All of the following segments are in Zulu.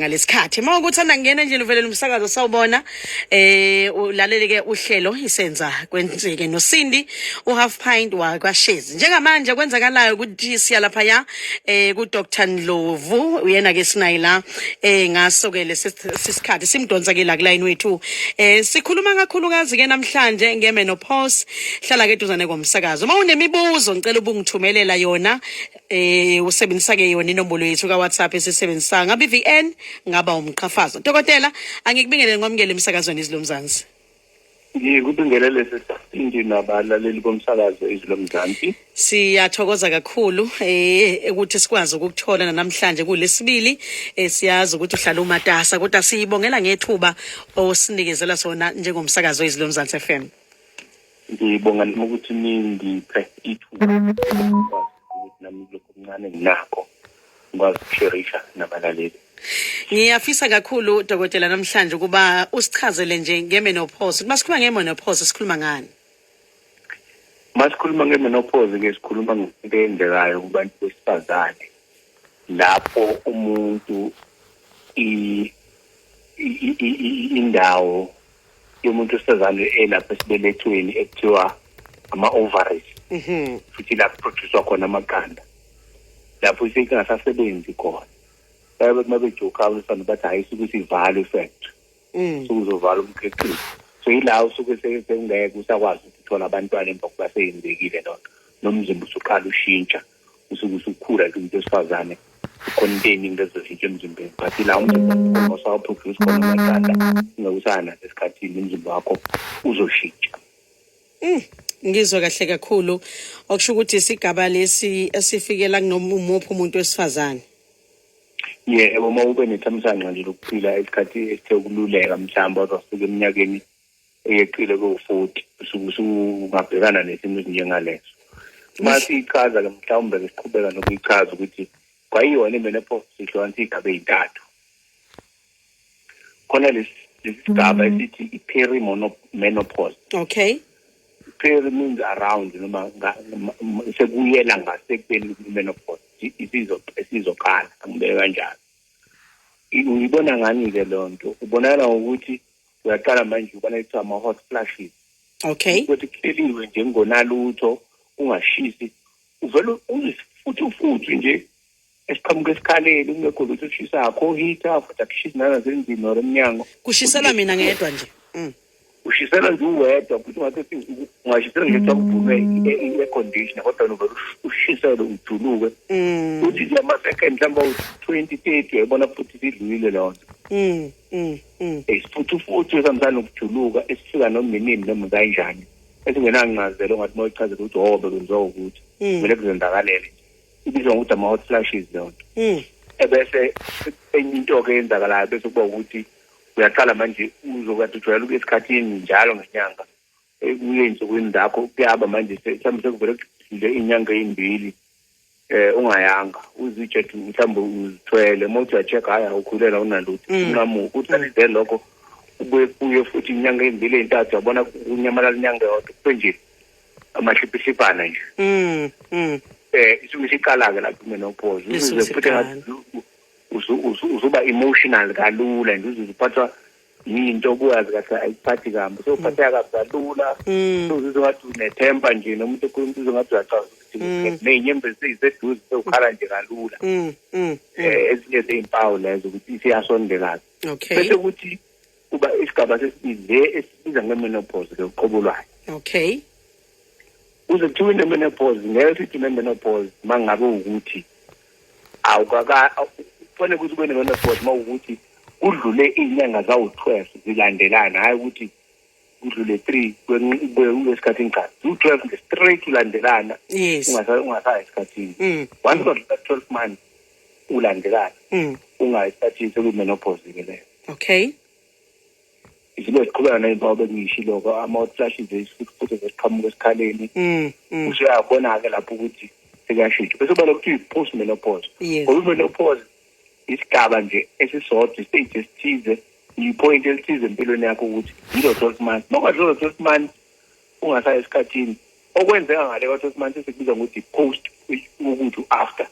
ngaleskhathi uma ukuthi andangena nje luvelela umsakazo sawubona eh ulalele ke uhlelo isenza kwenzeke nosindi u half pint wakwashezi njengamanje kwenzakalayo ukuthi siya lapha ya eh ku Dr Ndlovu uyena ke sinayi la eh ngaso ke lesisikhathi simdonsa ke la ku line wethu eh sikhuluma kakhulukazi ke namhlanje nge menopause hlala ke duzane komsakazo uma unemibuzo ngicela ubungithumelela yona eh usebenzisa ke yona inombolo yethu ka WhatsApp esisebenzisa ngabe VN ngaba umqhafazo dokotela angikubingelele ngomngele emsakazweni izilomzansi ngikubingelele sesindi nabalaleli bomsakazo izwi lomzansi siyathokoza kakhulu eh ukuthi sikwazi ukukuthola namhlanje kulesibili eh, siyazi ukuthi uhlala umatasa kodwa siyibongela ngethuba osinikezela sona njengomsakazo izwi lomzansi FM ngibonga noma ukuthi ningiphe ithuba ukuthi nami kulokhu okuncane nginakho ngikwazi ukusherisha nabalaleli ngiyafisa kakhulu dokotela namhlanje ukuba usichazele nje ngemenopause ukuba sikhuluma ngemenopause sikhuluma ngani masikhuluma ngemenopause ke sikhuluma ngento eyenzekayo kubantu besifazane lapho umuntu indawo yomuntu osezalwe elapha esibelethweni ekuthiwa ama-ovaries mhm. futhi lapho produswa khona amaqanda lapho isinke ngasasebenzi khona bayabe uma bejoka abesana bathi hhayi suke sivalwe factory mm. sukuzovala umkhiqizo so yila usuke sekungeke usakwazi ukuthola abantwana emva kuba seyenzekile loo nto nomzimba usuqala ushintsha usuke usukhula ke umuntu wesifazane containing lezo zinto emzimbeni but la umzimba wakhona usawaproduce khona amaqanda ungakusana esikhathini umzimba wakho uzoshintsha mm, ngizwe kahle kakhulu okusho ukuthi isigaba lesi esifikela kunomuphi umuntu wesifazane yebo uma ube nethamsanqa nje lokuphila isikhathi esithe ukululeka mhlawumbe wazafika eminyakeni eyeqile ko-40 usuke usungabhekana nesimo esinjengaleso uma siyichaza ke mhlawumbe ke siqhubeka nokuyichaza ukuthi kwayiyona i-menopause sihlukanisa iy'gaba ey'ntathu khona lesi sigaba mm. esithi i-peri menopause okay peri means around noma sekuyela ngasekubeni i-menopause isizoqala angibeke kanjalo uyibona ngani-ke loo nto ubonakala ngokuthi uyaqala manje ubana kuthiwa ama-hot flashes okay ukuthi kuhleliwe nje kungonalutho kungashisi uvele futhi ufuthi nje esiqhamuka esikhaleni kungekho lutho okushisa akho heater futhi akushisi nanasenzini or emnyango kushisela mina ngedwa nje mm. ushisela nje uwedwa futhi ungathi ungashisela nje kuthiwa kuvume i-conditioner kodwa novele ushisele ujuluke mm. futhi nje ama-second mhlawumbe awu-twenty thirty uyayibona futhi sidlulile leyo nto mm. mm, mm. isifuthufuthu esihambisana nokujuluka esifika nominini noma kanjani esingenancazelo ngathi uma uyichazela ukuthi o oh, bekwenziwa ukuthi mm. kumele kuzenzakalele ibizwa ngokuthi ama-hot flashes leyo nto ebese enye into-ke eyenzakalayo bese kuba ukuthi uyaqala manje uzokade ujwayela ukuya esikhathini njalo ngenyanga ekuye nsukwini zakho kuyaba manje mhlawumbe sekuvele nje inyanga eyimbili eh ungayanga uzitshe ukuthi mhlawumbe uzithwele uma uthi uyacheck hhayi awukhulelwa unalutho mm. unqamu usalinde mm. lokho ubuye kuye futhi inyanga eyimbili eyintathu yabona kunyamalala inyanga yodwa kube nje amahliphihlipana nje um um eh isuke isiqala-ke lapho menopause uze futhi usuba emotional kalula nje uze uphathwa yinto obuyazi kahle ayikuphathi kambi so uphatheka kabi kalula mm. uzizwa ngathi unethemba nje noma umuntu ekhuluma uzizwa ngathi uyacabanga ukuthi mm. nezinyembezi seyiseduze sewukhala nje kalula mm, um ezinye zeyimpawu lezo ukuthi isiyasondelana bese ukuthi kuba isigaba sesibili le esibiza ngemenopause ke uqobo lwayo okay kuze kuthiwe inemenopause ngeke sithi inemenopause uma ngabe ukuthi awukaka kufanele ukuthi ube nemenopause uma ukuthi kudlule iy'nyanga zawu-twelve zilandelana hhayi ukuthi kudlule three kwesikhathi ngikhathi ziwu-twelve nje straight ulandelana ungasayi esikhathini mm. once kodlula twelve months ulandelana mm. ungayi esikhathini sekuyimenopause-ke leyo okay izinto eziqhubeka ney'mpawu bengiyishiloko ama-hot flashes isifuthufuthu zesiqhamuka esikhaleni mm, mm. usuyabona-ke lapho ukuthi sekuyashintsha bese ubona ukuthi uyi-post menopause ngoba i-menopause isigaba nje esisodwa istage esithize yipoint elithize empilweni yakho ukuthi yilo twelve months nokwadlula twelve months ungasayi esikhathini okwenzeka ngale kwa-twelve months esikubiza ngokuthi post ukuthi u-after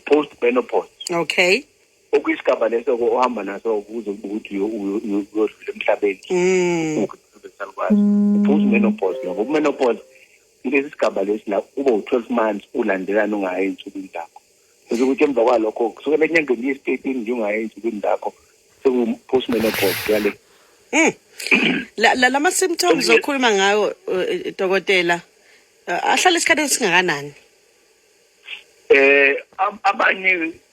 post menopause okay okuyisigaba leso ke ohamba naso ukuze kube ukuthi uyodlula emhlabeni mm. usalukwazi mm. uphuza umenopause ngoba umenopause kulesi sigaba lesi la uba u-twelve months ulandelana ungayi ey'nsukwini zakho kusho ukuthi emva kwalokho kusukela enyangeni yesitethini nje ungayi ey'nsukwini zakho seku-post menopause kuyale mm. la ma-symptoms okhuluma ngayo eh, dokotela eh, ahlala isikhathi esingakanani eh abanye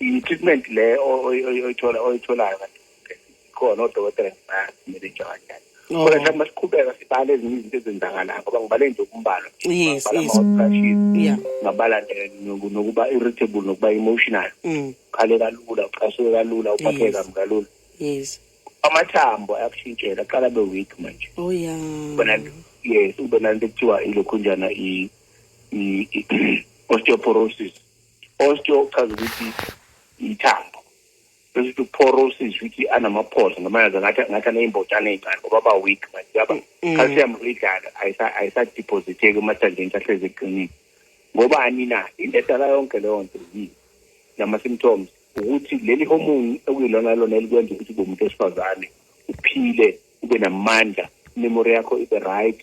i-treatment le oyithola oyitholayo kanti khona odokotela ngibasimele njani oh. kodwa mhlawumbe masiqhubeka sibale ezinye izinto ezenzakalayo ngoba ngibale nje ukumbalwa ngabala nokuba irritable nokuba emotional mm. ukhale kalula ucasuke kalula uphatheke kambi kalula amathambo ayakushintshela aqala be weak manje oh ya yes ube nanto ekuthiwa ilokhunjana i-osteoporosis osteo okuchaza ukuthi ithambo bese ukuthi uporosis ukuthi anamaphosa noma yazi ngathi ngathi aney'mbotshana ey'ncane ngoba aba-weak manje yaba Mm. calcium uyidlala ayisa- ayisadepositheki emathanjeni sahlezi eqinile ngoba ani na into edala yonke leyo nto yini nama-symptoms ukuthi leli hormone okuyilona lona elikwenza ukuthi ube umuntu wesifazane uphile ube namandla imemory yakho ibe right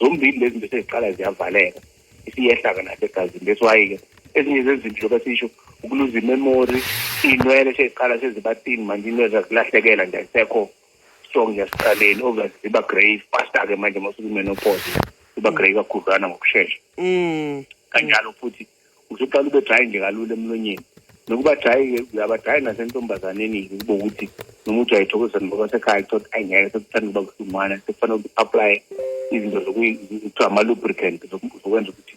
zombili lezi zinto seziqala ziyavaleka isiyehla-ke nasegazini that's why-ke ezinye zezinto besisho ukuluza imemory iy'nwele seziqala sezibatini manje inwele zakulahlekela nje ayisekho strong yasiqaleni obvious ziba grey faster-ke manje masukumenopause iba grey kakhudlwana ngokushesha mm. kanjalo futhi usuqala ube dry nje kalula emlonyeni nokuba dry uyaba dry nasentombazaneni ukuba ukuthi noma uthi uyayithokozisa noma basekhaya thothi ayi ngeke sekuthanda ukuba kuhlumana sekufanele ukuthi apply izinto zokuthiwa ama-lubricant zokwenza ukuthi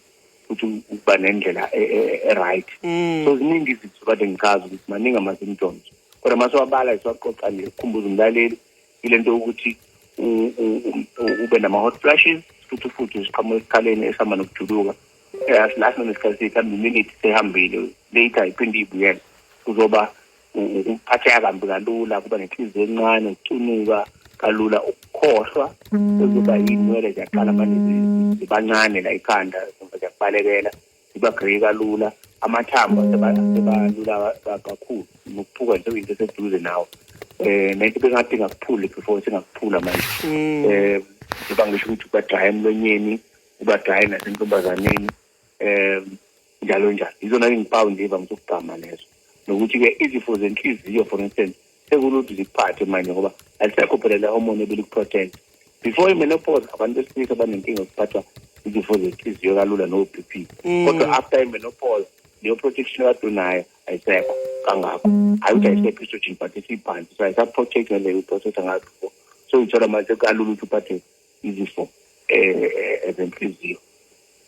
futhi ukuba nendlela e, e, e, e-right mm. so ziningi izinto kade ngichaza ukuthi maningi ama-symptoms kodwa uma siwabala siwaqoqa nje kukhumbuza umlaleli ile nto yokuthi ube nama-hot flashes futhi futhi isiqhamu esikhaleni esihamba nokujuluka asilahle nesikhathi sethu hambe iminute sehambile later iphinde ibuyele kuzoba ukuphatheka kambi kalula kuba nenhliziyo encane ukucunuka kalula ukukhohlwa kuzoba yinwele ziyaqala manje zibancane la ikhanda ziyakubalekela ziba grey kalula amathambo sebalula kakhulu nokuphuka nje into eseduze nawo eh nento bengathi ngakuphuli before singakuphula manje mm. eh ngiba ngisho ukuthi kubadraya emlonyeni ubagaye nasentombazaneni um njalo njalo yizona izimpawu nje evamise ukugqama lezo nokuthi-ke izifo zenhliziyo for instance sekulutho zikuphathe manje ngoba alisekho phela le hormone ebilikuprotect before imenopause abantu besilisa banenkinga yokuphathwa izifo zenhliziyo kalula no-b p mm. kodwa after imenopause leyo protection kade unayo ayisekho kangakho hayi ukuthi ayisekho estrogen but isiphansi so ayisaprotect ngaleyo iprotect angayo before so uyithola manje kalula ukuthi uphatheke izifo eh, ezenhliziyo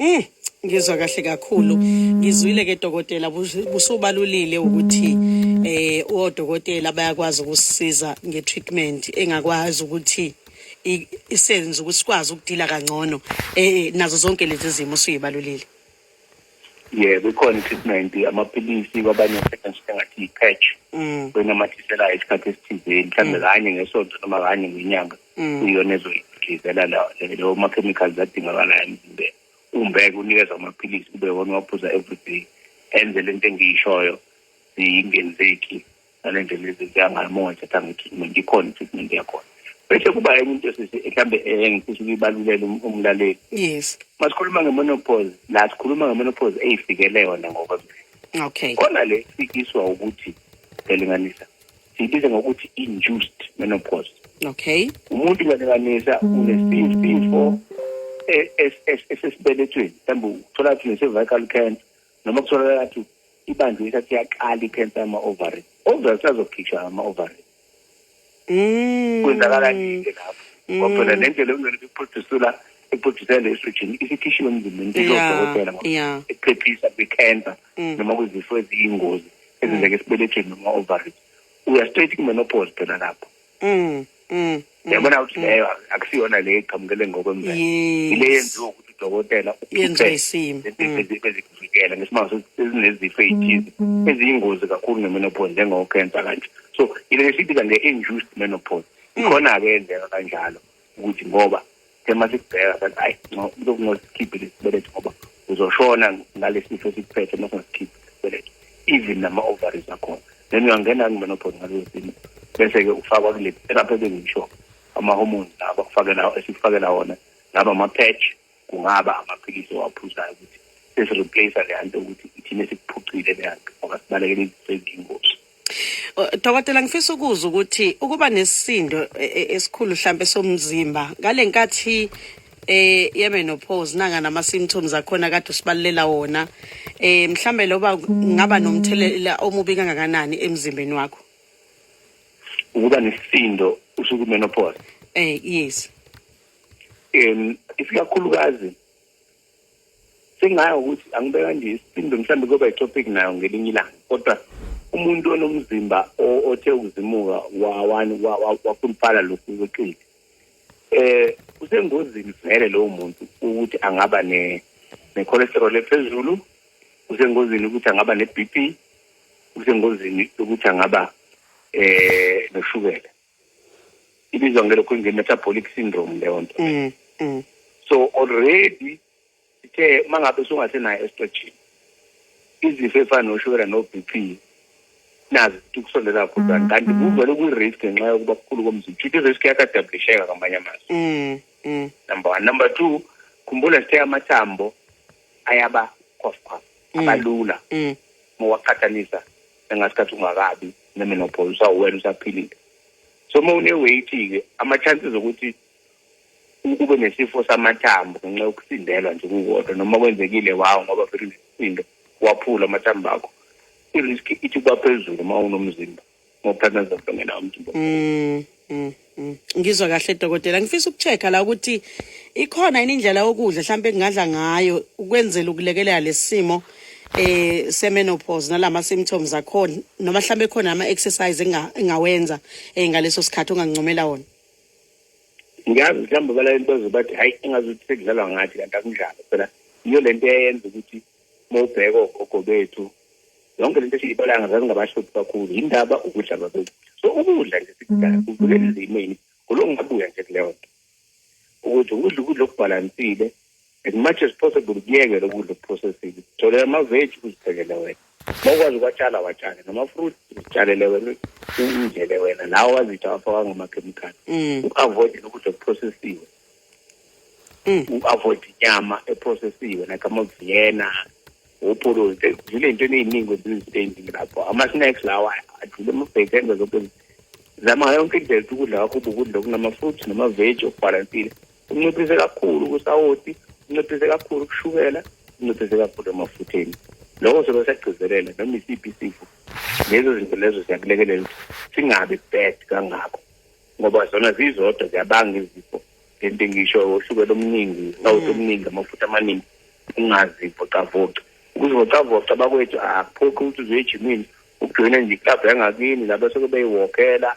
Mm, ngizwa kahle kakhulu ngizwile ke dokotela bus- busubalulile ukuthi eh odokotela bayakwazi ukusiza ngetreatment engakwazi ukuthi i- isenze ukuthi sikwazi ukudila kangcono eh nazo zonke lezi zimo suyibalulile yebo ikhona i-treatment amaphilisi kwabanye asetshenziswa ngathi i-patch mm. oyinamathiselayo isikhathi esithizeni mhlawumbe mm. kanye ngesonto noma kanye ngenyanga mm. kuyiyona ezoyidlizela leyo ma-chemicals adingakalayo emzimbeni umbeke unikeza amaphilisi kube wona uwaphuza everyday enze le nto engiyishoyo ziyingenzeki ngale ndlela ezenzeka ngayo uma wayithatha nge-treatment ikhona i-treatment yakhona bese kuba enye into sisi mhlawumbe engifisa ukuyibalulele umlaleli yes masikhuluma nge-monopause la sikhuluma nge-monopause eyifikele yona ngokwemvelo okay khona le fikiswa ukuthi ngelinganisa siyibiza ngokuthi induced menopause okay umuntu ngelinganisa unesifo esesibelethweni mhlawumbe uthola ukuthi unecervical cancer noma kutholakala ukuthi ibandla isathi yaqala ikhensa ama-ovary ovary sazokhishwa ama-ovary mm. kwenzakala nike lapho mm. ngoba phela le ndlela ekumele kuphrodusula iprodusela le estrogen isikhishiwe emzimbeni kuzodokotela ekuphephisa kwi-cancer mm. noma kwizifo eziyingozi ezenzeka esibelethweni noma ovary uya straight kumenopause phela lapho Mm. Mm. mm. Yabona ukuthi mm. leyo akusiyona le eqhamukele ngokwemvelo. Ile yenziwa ukuthi udokotela uphuphe isimo. Bezikuvikela ngesimanje sezinezifo ezithize eziyingozi kakhulu ngemenopause njengo cancer kanje. So ile lesibiza nge induced menopause. Ikhona ke endlela kanjalo. ukuthi ngoba thema sikubheka sathi hayi kuzokungosikhiphi lesi sibeletho ngoba uzoshona ngalesi sifo esikuphethe uma singasikhiphi isibeletho even nama-ovaries akhona then uyangena kumenopause ngaleso simo bese-ke ufakwa kule therapy ebengisho ama-hormones lawa bakufakela esikufakela wona laba ama-patch kungaba amaphilisi owaphuzayo ukuthi sesireplace le nto ukuthi ithina sikuphucile le nto ngoba sibalekele izinto eziyingozi Dokotela ngifisa ukuza ukuthi ukuba nesisindo e, e, esikhulu mhlambe somzimba ngalenkathi eh yebe no pause nanga nama symptoms akhona kade usibalulela wona eh mhlambe loba ngaba nomthelela omubi kangakanani emzimbeni wakho ukuba nesindo usuku menopause eh yes um isikakhulukazi sengayo ukuthi angibe kanje isindo mhlawumbe kuyoba itopic nayo ngelinye ilanga kodwa umuntu onomzimba othe ukuzimuka wawani wakhuluphala lokhu kweqili eh usengozini vele lowo muntu ukuthi angaba ne ne-cholesterol ephezulu usengozini ukuthi angaba ne-b p usengozini ukuthi angaba eh noshukela ibizwa ngelokhu nge-metabolic syndrome leyo nto mm, mm. so already ithe uma ngabe sungasenayo esitretshini izifo efana noshukela no-b p nazi ukusondela kakhulu mm, kanti kuvele kwi-risk ngenxa yokuba kukhulu komzimba shuthi i-risk yakadablisheka ngamanye amazwi number one number two khumbula sithe amathambo ayaba cof cof abalula mowaqhathanisa engasikhathi ungakabi nemenopause usawuwena usaphilile so uma une-weight-ke ama-chances okuthi ube nesifo samathambo ngenxa yokusindelwa nje kukodwa noma kwenzekile wawo ngoba phela unesindo waphula amathambo akho i-risk ithi kuba phezulu uma unomzimba ngokuthatha zonke ngena umzimba mm, mm. Mm, ngizwa kahle dokotela ngifisa ukuchecka la ukuthi ikhona yini indlela yokudla mhlawumbe kungadla ngayo ukwenzela ukulekelela lesimo eh semenopause nalama symptoms akhona noma mhlawumbe khona ama exercise engawenza eh, ngaleso sikhathi ongancomela wona ngiyazi mhlawumbe bala into ezobathi hayi engazi ukuthi sekudlalwa ngathi kanti akunjalo phela iyo lento eyenza ukuthi mawubheka ogogo bethu yonke lento esiyibalayo zazingabahluphi kakhulu yindaba ukudla kwabekudla so ukudla nje sikudala mm-hmm. kuvukela izimeni kuloko ngabuya nje kuleyo nto ukuthi ukudla ukudla okubhalansile as much as possible kuyeke lokudla okuprocessile tholela amaveji uziphekele wena uma ukwazi ukwatshala watshale namafruit uzitshalele wena uzidlele wena nawo wazitha wafaka ngamakhemikhali mm. u-avoide lokudla okuprocessiwe mm. u-avoid inyama eprocessiwe like amaviyena opholozi sekudlule into eningi kwezinzipending lapho ama-snacks lawa adlule amabheki enza zonke zama ngayo yonke indlela ukuthi ukudla kwakho ubukudla okunama-fruit namaveji okubhalansile unciphise kakhulu kusawoti unciphise kakhulu kushukela unciphise kakhulu emafutheni lokho sobe sagcizelela noma isiphi isifo lezo zinto lezo siyakulekelela ukuthi singabi bad kangako ngoba zona zizodwa ziyabanga izifo lento ngisho oshukela omningi sawuthi omningi amafutha amaningi ungazivocavoca ukuzivocavoca bakwethu akuphoqi ukuthi uzoye ejimini ukujoyina nje iklabhu yangakini laba soke beyiwokela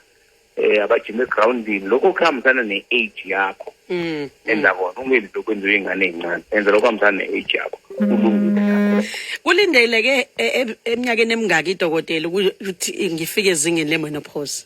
eh abajima egroundini lokho kuhambisana ne-age yakho mm. enza kona ungenzi lokhu enziwe ingane eyincane enza lokho kuhambisana ne-age yakho mm. kulindeleke e, e, eminyakeni emingaki idokotela ukuthi ngifike ezingeni le-menopause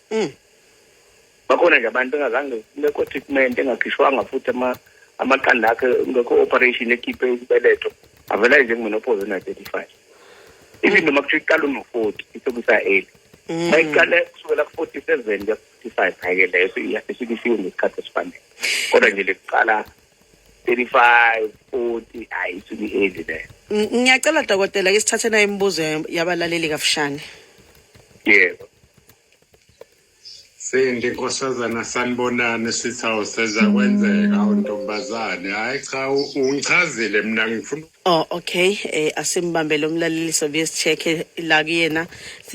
mm. bakhona nje abantu engazange lekho treatment engakhishwanga futhi ama amaqanda akhe ngekho operation ekhiphe isibeletho avela nje kumenopause na 35 even noma kuthiwa iqala uno 40 isokusa early mm. bayiqale kusukela ku 47 ya 55 hayi leyo iyafikisiwe ngesikhathi esifanele kodwa nje lekuqala 35 40 hayi isuke iheavy le Ng- ngiyacela dokotela ke sithathe nayo imibuzo ya- yabalaleli kafushane yebo Sindi nkosazana sanibonani sithi awuseza kwenzeka awu ntombazane hayi cha u- ungichazile mina ngifuna oh okay eh asimbambe lo mlaleli sobuye sicheke la kuyena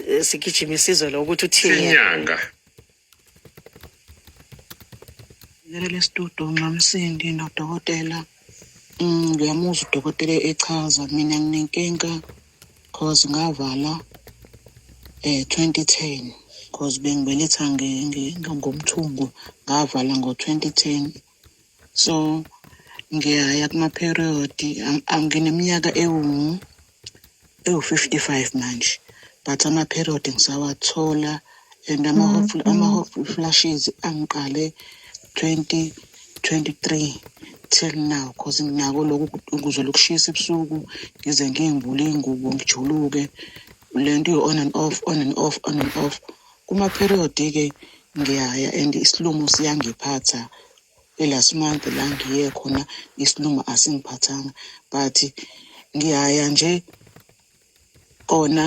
eh, sigijima isizwe lo ukuthi uthini yena. inyanga Ngikelelesitudo nxamsindi nodokotela mm, ngiyamuzwa udokotela echaza mina nginenkinga cause ngavala eh 2010 cause bengibeletha ngomthungo ngavala ngo 2010 so ngiyaya kuma-period ngineminyaka ewu-55 manje but ama-period ngisawathola and mm-hmm. ama-hot flashes angiqale 2023 till now cause nginako lokhu ukuze lokushisa ebusuku ngize ngiyimbule iy'ngubo ngijuluke le nto you-on and off on and off on and off Kuma period ke ngiyaya and isilumo siyangiphatha the last month la ngiye khona isilumo asingiphathanga but ngiyaya nje kona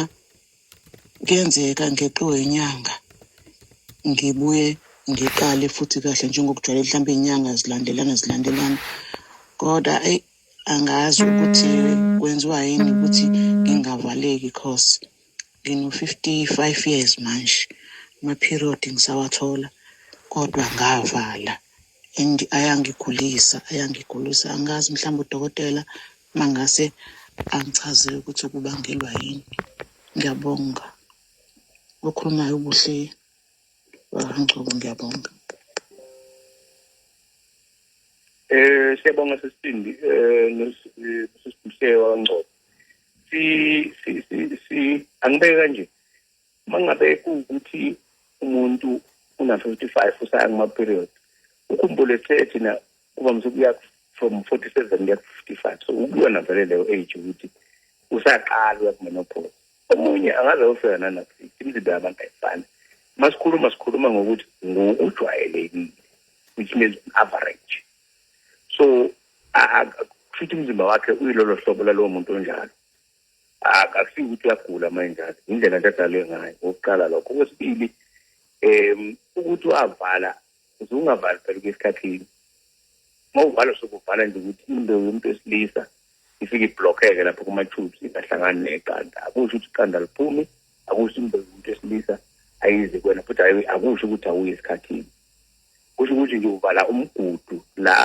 kuyenzeka ngeqiwe inyanga ngibuye ngiqale futhi kahle njengokujwayele mhlawumbe inyanga zilandelana zilandelana kodwa eyi angazi ukuthi kwenziwa yini ukuthi ngingavaleki cause Ngino-55 years manje, ama-period ngisawathola kodwa ngavala and ayangigulisa, ayangigulisa. Angazi mhlawumbe udokotela uma ngase angichazele ukuthi kubangelwa yini. Ngiyabonga. Okhulumayo ubuhle wangcobo ngiyabonga. Eh siyabonga sesibindi eh, eh sesibindi wangcobo. si si si, si angibeke kanje mangabe ukuthi umuntu una 55 usaya kuma period ukhumbule ethe thina kuba msukuya from 47 kuya 55 so ukuyona vele leyo age ukuthi usaqala uya kumenopause omunye angaze ofika nanaphi imizimba yabantu ayifani masikhuluma sikhuluma ngokuthi ngokujwayelekile which means average so kushuthi umzimba wakhe uyilolo hlobo lalowo muntu onjalo akusiyo ukuthi uyagula uma enjalo indlela nje adalwe ngayo okokuqala lokho okwesibili um ukuthi wavala uze ungavali phela kwesikhathini uma uvala sokuvala nje ukuthi into yomuntu wesilisa ifike iblokheke lapho kuma-tubes ingahlangani neqanda akusho ukuthi iqanda liphumi akusho into yomuntu wesilisa ayizi kwena futhi akusho ukuthi awuyi esikhathini kusho ukuthi nje uvala umgudu la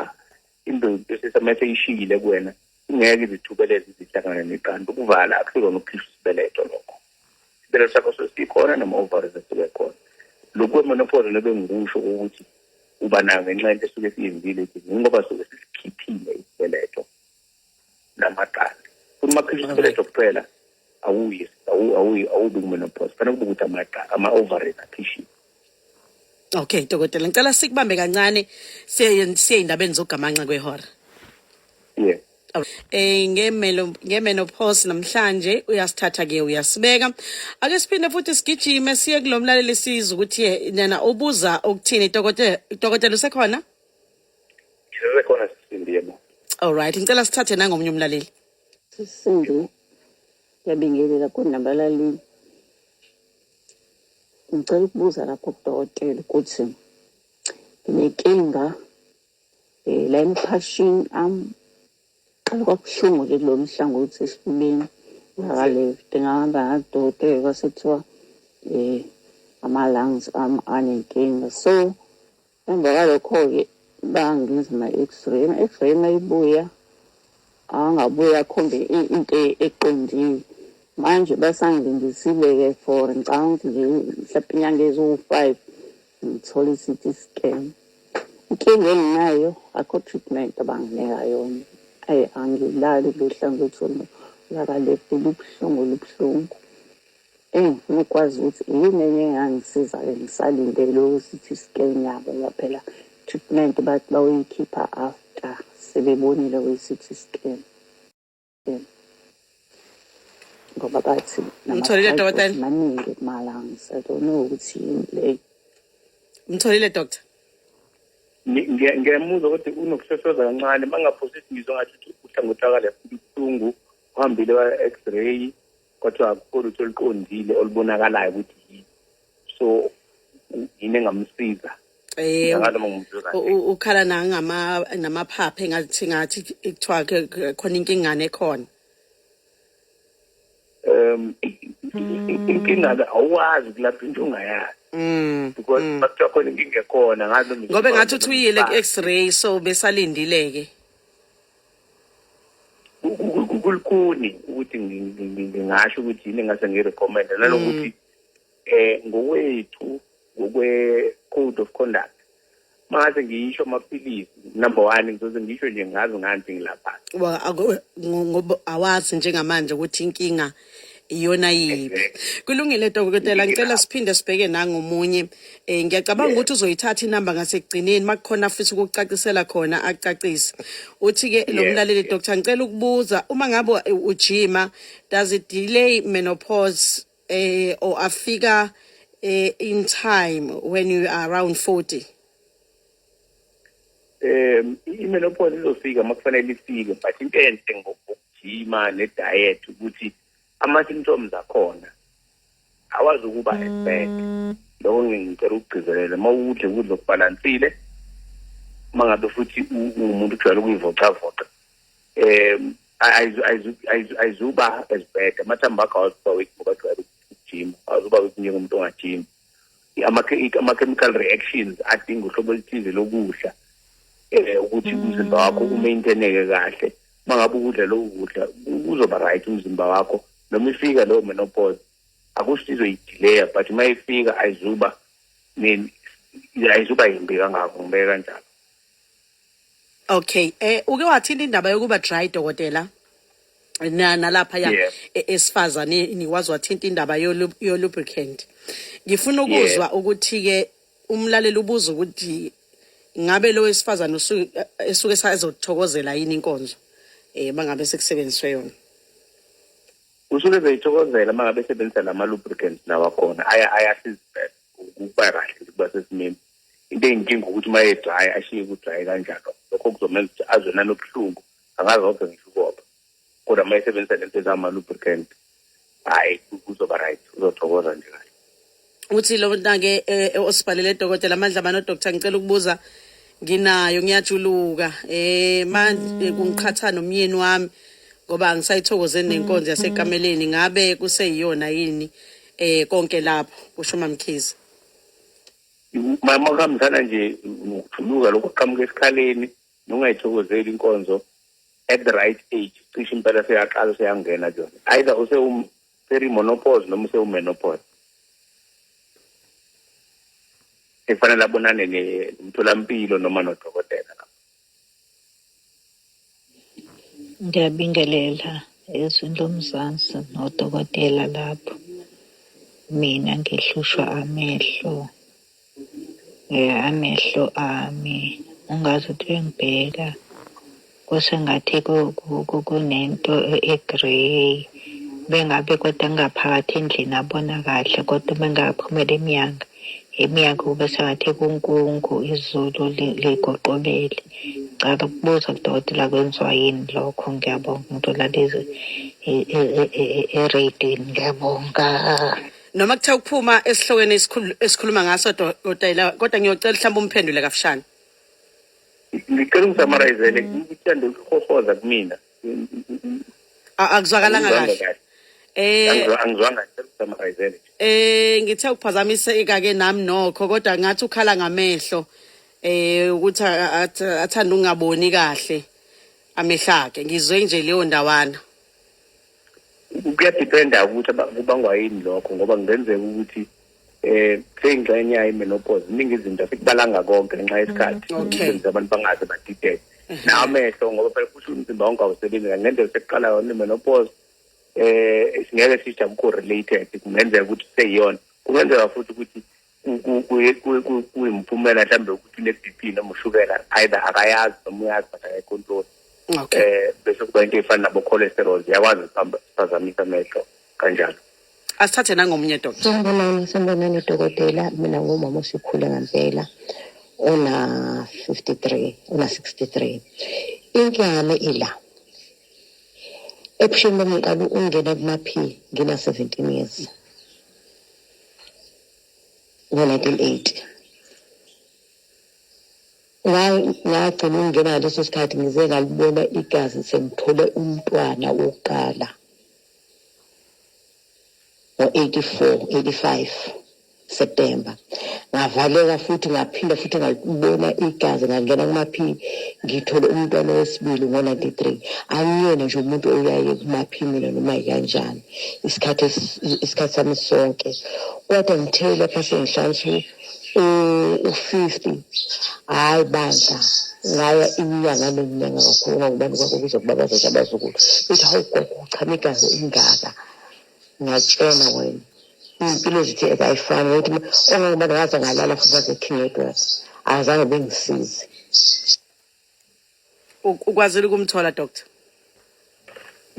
indoda esesamese ishiyile kuwena ingeke izithubeleze izihlangane neqanda ukuvala akusilona ukukhishwa isibeletho lokho isibeletho sakho sesikhona noma ovaries esuke khona lokhu kwemonopoli nobe ngikusho ukuthi uba nayo ngenxa yento esuke siyenzile ukuthi ngoba suke sisikhiphile isibeletho namaqanda uma khishwa isibeletho kuphela awuyi awuyi awubi kumenopause fanele kube ukuthi amaqa ama-ovaries akhishiwe okay dokotela ngicela sikubambe kancane siye ey'ndabeni zokugamanxa kwehora yeah Eh ngemelo ngemenopause namhlanje uyasithatha ke uyasibeka ake siphinde futhi sigijime siye kulomlaleli sizwe ukuthi yena ubuza ukuthini dokotela dokotela usekhona Ngisekhona sisindi yebo. All right, ngicela sithathe nangomunye umlaleli. Sisindi. Ngiyabingelela kunamba lalini. Ngicela ukubuza lapho kudokotela ukuthi nginenkinga eh la emphashini am qala kwabuhlungu ke lo mhlangothi esifubeni ngakale ngihamba ngadokotela kwasethiwa eh ama lungs am anenkinga so Emva kwalokho-ke bangenza ama-x-ray ama-x-ray uma ibuya angabuya akhombe into eqondile manje basangilindisile-ke for ngicabanga ukuthi nje mhlawumpe inyanga eziwu-five ngithole i-ct scan inkinga enginayo akho treatment abanginika yona ayi angilali luhlangothi olulakalefu lubuhlungu lubuhlungu Eyi ngikwazi ukuthi yini enye engangisiza-ke ngisalindele uCT scan yabo ngoba phela treatment bathi bawuyikhipha after sebebonile kwi-CT scan ngoba bathi Umtholile, nama-side dokotela? effects maningi kumalungs I don't know ukuthi yini le Umtholile doctor? Ngi- ngiya- ngiyamuzwa kodwa unokusesoza kancane uma ngaphosisi ngizwa ngathi uthi uhlangothi akalefuni ubuhlungu uhambile wa-x-ray kodwa akukho lutho oluqondile olubonakalayo ukuthi yini so yini engamsiza Eh, ukhala nangama namaphaphe ngathi ngathi kuthiwa khona inkingane ekhona um inkinga ke awuwazi kulapha into ongayazi mm, because mm. bakuthiwa khona inkinga ekhona ngazi ngobe ngathi uthi uyile ku-x-ray so besalindile-ke kulikuni ukuthi ngingasho ukuthi yini engase ngirecommende nanokuthi mm. eh ngokwethu ngokwe code of conduct mase ngiyisho amaphilisi number one ngizoze ngisho nje ngazi ngani ngilapha ngoba awazi njengamanje ukuthi inkinga iyona yiphi kulungile dokotela ngicela siphinde sibheke nangomunye um eh, ngiyacabanga ukuthi uzoyithatha inamba ngasekugcineni uma kukhona afisa ukukucacisela khona akucacise uthi-ke lo mlaleli doctor ngicela ukubuza uma ngabe ujima does it delay menopause um or afika um in time when you are around forty um i-menopause izofika uma kufanele ifike but into enhle ngokujima ne-diet ukuthi ama-symptoms akhona awazi ukuba as bad loko ngicela ukugcizelela uma udle ukudla okubhalansile uma ngabe futhi umuntu ujwayele ukuyivocavoca um ayizuba as bad amathambo akho awuzuba weak ngoba jwayele ukujima awuzuba weak njengomntu ongajimi ama-chemical reactions adinga uhlobo oluthize lokudla um ukuthi mm. umzimba wakho umaintaineke kahle uma ngabe ukudla loku kudla kuzoba right umzimba wakho noma ifika leyo menopause akusho izoyidileya but uma ifika ayizuba ayizuba yimbi kangako ngibeke kanjalo Okay. Eh uke wathini indaba yokuba dry dokotela? Na nalapha ya Yeah. e- esifazane nikwazi wathinta indaba yo lu- yo lubricant. Ngifuna ukuzwa ukuthi ke umlaleli ubuza ukuthi ngabe lo wesifazane usu- eh, esuke sazothokozela yini inkonzo eh bangabe sekusebenziswe yona. usuke beyithokozela uma ngabe sebenzisa lama-lubricants nawakhona Aya- ayasiza ukuba kahle ukuba sesimeni into eyinkinga ukuthi uma edraya ashiye kudraye kanjalo lokho kuzomenza ukuthi azwe nanobuhlungu angazoke ngisho ukoba kodwa uma esebenzisa lento ezama-lubricant hhayi kuzoba right uzothokoza nje kahle uthi lo mntake eh, eh, osibhalele dokotela amandla mani odoktar ngicela ukubuza nginayo ngiyajuluka eh manje eh, kungiqhatha nomyeni wami ngoba angisayithokozeni nenkonzo yasekameleni ngabe kuseyiyona yini eh konke lapho kusho mamkhize mama kuhambisana nje nokujuluka lokhu kuqhamuka esikhaleni nongayithokozeli inkonzo at the right age cishe impela seyaqala seyangena kuyona either usewuseremonopause noma usewumenopause efanele abonane nomtholampilo noma nodokotela Ngiyabingelela ezweni lomzansi nodokotela lapho. Mina ngihlushwa amehlo. Eh, amehlo ami ungaze uthi uyangibheka kusengathi ku- ku- ku- kunento e- e-grey bengabe kodwa ngaphakathi endlini abona kahle kodwa uma ngaphumela emnyango iminyaka kube sengathi kunkungu izulu ligoqobele ngicela ukubuza kudokotela kwenziwa yini lokho ngiyabonga umuntu olala eradini ngiyabonga noma kuthiwa ukuphuma esihlokweni esikhuluma ngaso dotayila kodwa ngiyocela mhlawumbe umphendule kafushane ngicela ungisamarayizele ngithanda ukuhohoza kumina A- akuzwakalanga Angizwanga kahle eh Angizwa- angizwanga summarizele eh ngithe ukuphazamiseka ke nami nokho kodwa ngathi ukhala ngamehlo eh ukuthi a- a- ath- athanda ungaboni kahle amehlake ngizwe nje leyo ndawana kuyadependa ukuthi aba- kubangwa yini lokho ngoba kungenzeka ukuthi eh seyingxenye yayo menopause iningi izinto asikubalanga konke ngenxa yesikhathi mm, okay abantu bangaze badideke mm-hmm. namehlo ngoba phela kusho umzimba wonke awusebenzi ngendlela sekuqala yona menopause eh singeke sijam ku related kungenzeka ukuthi seyiyona kungenzeka futhi ukuthi kuyimphumela mhlawumbe ukuthi une-bp noma ushukela either akayazi noma uyazi but akayicontroli um eh, bese kuba into eyifana nabo-cholesterol ziyakwazi ukuphazamisa amehlo kanjalo asithathe nangomunye dokotela sanibonani sanibonani dokotela mina ngumama osikhule ngempela una 53 una 63 inkinga yami ila ebusheni bami ngiqala ukungena kuma-p ngina 17 years ngo-1980 ngagcina ukungena ngaleso sikhathi ngize ngalibona igazi sengithole umntwana wokuqala ngo-84 September ngavaleka futhi ngaphinda futhi ngabona igazi ngangena kumaphini ngithole umntwana wesibili ngo-93 angiyena nje umuntu oyaye kumaphini mina noma yikanjani isikhathi isikhathi sami sonke kodwa ngithe lapha sengihlala ukuthi um usisi hhayi bandla ngaya inyanga nenyanga kakhulu ngangubani kwakho kuze kuba bazothi abazukulu bethi hawu gogo uchamekayo ingaka ngiyatshena wena iy'mpilo zethu ezayifani ukuthi ongangubani ngaze ngalala futhi bazekhingedwakhe azange bengisize ukwazile ukumthola doctor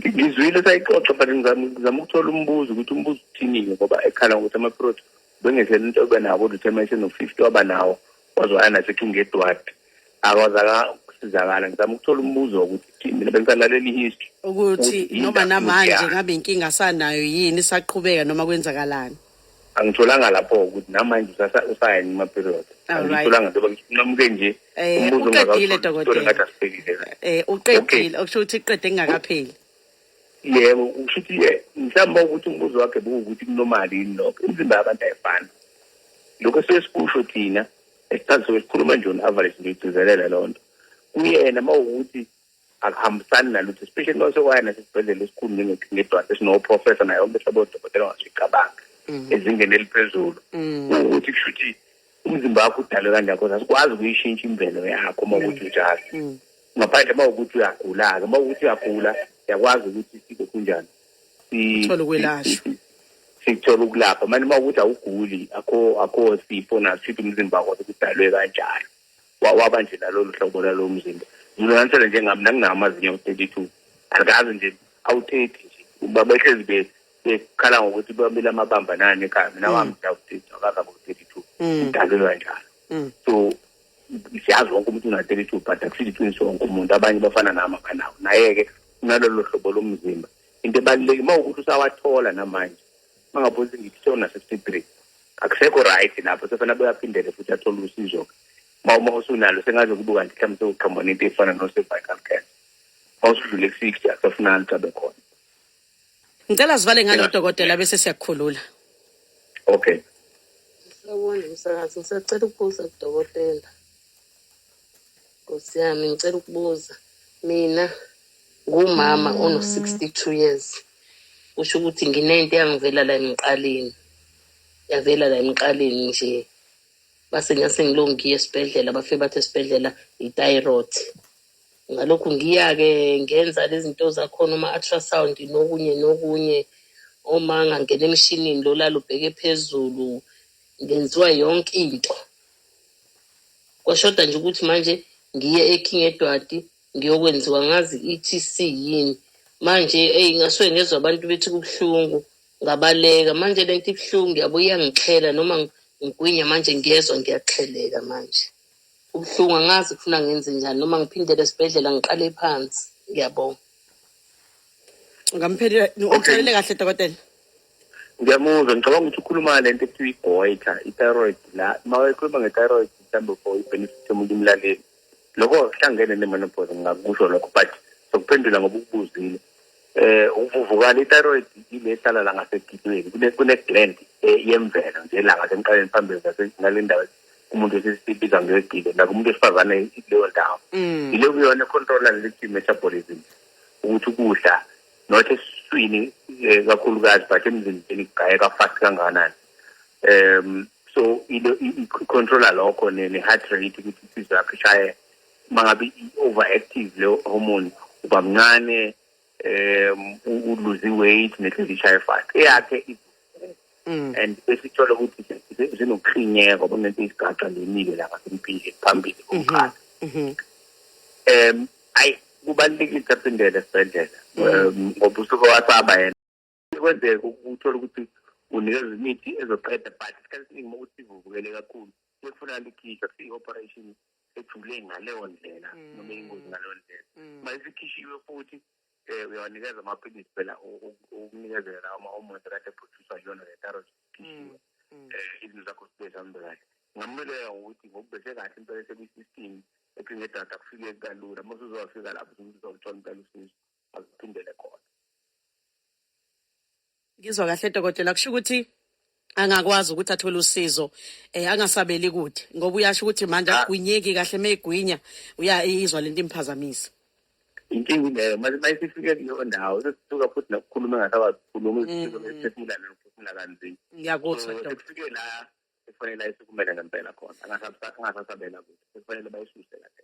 ngizwile sayixoxa but ngizama ukuthola umbuzo ukuthi umbuzo uthini-ke ngoba ekhala ngokuthi ama-prot bengesele into ebe nawo determination of fifty waba nawo waze waya naseking edward akwazaka ukusizakala ngizama ukuthola umbuzo wokuthi thini mina bengisalalela i-history ukuthi noma namanje ngabe inkinga sanayo yini isaqhubeka noma kwenzakalani angitholanga lapho ukuthi namanje usayini ma-period angitholanga njengoba ngisinqamuke nje eh, umbuzo uqedile dokotela ngathi asifikile eh uqedile okusho ukuthi iqede engakapheli yebo usho ukuthi ye mhlawumbe ukuthi umbuzo wakhe bekuwukuthi kunomali yini lokho imizimba yabantu ayifani lokho sesikusho thina esithathu sikhuluma nje on-average ngiyigcizelela loo nto kuyena uma wukuthi akuhambisani nalutho especially uma usekwaya nasesibhedlela esikhulu ngedwa sesinoprofessor naye onke hlobo odokotela ongasuyicabanga mm. ezingeni eliphezulu mm. ukuthi kusho ukuthi umzimba wakho udalwe kanjani cause asikwazi ukuyishintsha imvelo yakho uma ukuthi mm. unjalo ngaphandle uma ukuthi uyagula-ke uma ukuthi uyagula siyakwazi ukuthi sibe kunjani sithole ukwelashwa sithola ukulapha manje uma ukuthi awuguli akho akho sifo naso sithi umzimba wakho kudalwe kanjalo waba nje nalolu hlobo lalo mzimba nginonanisele njengami nanginawo amazinyo thirty two alikazi nje awuthethi nje uba behlezi be bekhala ngokuthi bamile amabamba nani ekhaya mina mm. wami ndawuthitha akakabe u-thirty two mm. idalelwa njalo mm. so siyazi wonke umuntu una-thirty two but akusithi iqiniso wonke umuntu abanye bafana nami abanawo naye-ke unalolo hlobo lomzimba into ebaluleke uma ukuthi usawathola namanje bangabuza ngithi sona sesibri akusekho right lapho sefana boyaphindele futhi athole usizo ma uma usunalo sengaze kubuka nje mhlawumbe sewuqhambona into efana no-cervical cancer ma usudlule ku-sixty akusafunani cabe khona ngicela sivale ngalo dokotela bese siyakukhulula okay sawubona msakazi ngisacela ukubuza kudokotela Nkosi yami ngicela ukubuza mina ngumama mm. ono 62 years kusho ukuthi nginento yangivela la emqaleni yavela la emqaleni nje base ngase ngilongi ngiye esibhedlela bafike bathi esibhedlela i-thyroid ngalokhu ngiya-ke ngenza lezi zinto zakhona uma-ultrasound nokunye nokunye uma ngangena emshinini lolala ubheke phezulu ngenziwa yonke into kwashoda nje ukuthi manje ngiye eking edwadi ngiyokwenziwa ngazi i-tc yini manje eyi ngasuke ngezwa abantu bethi kubuhlungu ngabaleka manje le nto ibuhlungu ngiyabo iyangixhela noma ngigwinya manje ngiyezwa ngiyaxheleka manje ubuhlungu angazi kufuna ngenze njani noma ngiphindele esibhedlela ngiqale phansi ngiyabonga ngampheli uxolele kahle dokotela Ngiyamuzwa ngicabanga ukuthi ukhuluma le nto ekuthiwa igoiter i-thyroid la uma ekhuluma nge-thyroid mhlawumbe for i-benefit yomuntu umlaleli lokho kuhlangene ne-menopause ngingakusho lokho but sokuphendula ngoba ukubuzile eh ukuvuvukala i-thyroid ile ehlala la ngasegidweni kune-gland eh, yemvelo nje la ngasemqaleni phambili nale ndawo umuntu esisibiza ngegile naku umuntu wesifazane ileyo ndawo mm. ile kuyona econtrola leli metabolism ukuthi ukudla not esiswini eh, kakhulukazi but emzimbeni kugayeka fast kangakanani um so i-controla lokho ne-heart rate ukuthi inhliziyo yakho ishaye uma ngabe i-overactive leyo hormone uba mncane um uluze i-weight nenhliziyo ishaye fast eyakhe Mm. and besithola ukuthi zinokuhlinyeka kunento isigaxa lemile lapha sempile phambili mhm. komkhaya mhm. em ayi kubalulekile ukuphindela esibhedlela mm. ngoba usuke wasaba yena kwenzeka ukuthola ukuthi unikeza imithi ezoqeda but isikhathi esiningi uma ukuthi ivuvukele kakhulu sekufuna likhishwa siyi-operation ethule ngaleyo ndlela mm. noma ingozi ngaleyo ndlela uma isikhishiwe futhi Eh uyawanikeza amaphilisi phela ukunikezela lawo ma-hormones kade ephuthiswa yiyona le thyroid mm, mm. eh izinto zakho zibe zihambe kahle ngingamululeka ngokuthi ngokubheshe kahle impela esekwi-system ephinde edata kufike kalula uma usuzowafika lapho uzothola impela usizo aziphindele khona ngizwa kahle dokotela kusho ukuthi angakwazi ukuthi athole usizo eh angasabeli kude ngoba uyasho ukuthi manje ah. agwinyeki kahle megwinya uyayizwa lento imphazamisa inkinga leyo manje mayisifike kuleyo ndawo sesisuka futhi nokukhuluma engasakwazi ukukhuluma izifiso besiphefumula mm. nokuphefumula kanzima ngiyakuzwa sesifike la sekufanele ayisukumele ngempela khona angasasabela kude sekufanele bayisuse kahle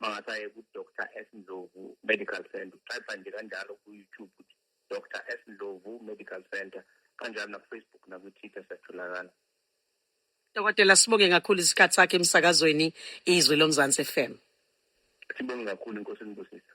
bangasaye ku-dr s ndlovu medical center utypa nje kanjalo ku-youtube ukuthi dr s ndlovu medical center kanjalo nakufacebook nakwi-twitter siyatholakala dokotela sibonge kakhulu isikhathi sakhe emsakazweni izwi lomzansi f m sibonge kakhulu inkosi enibusisa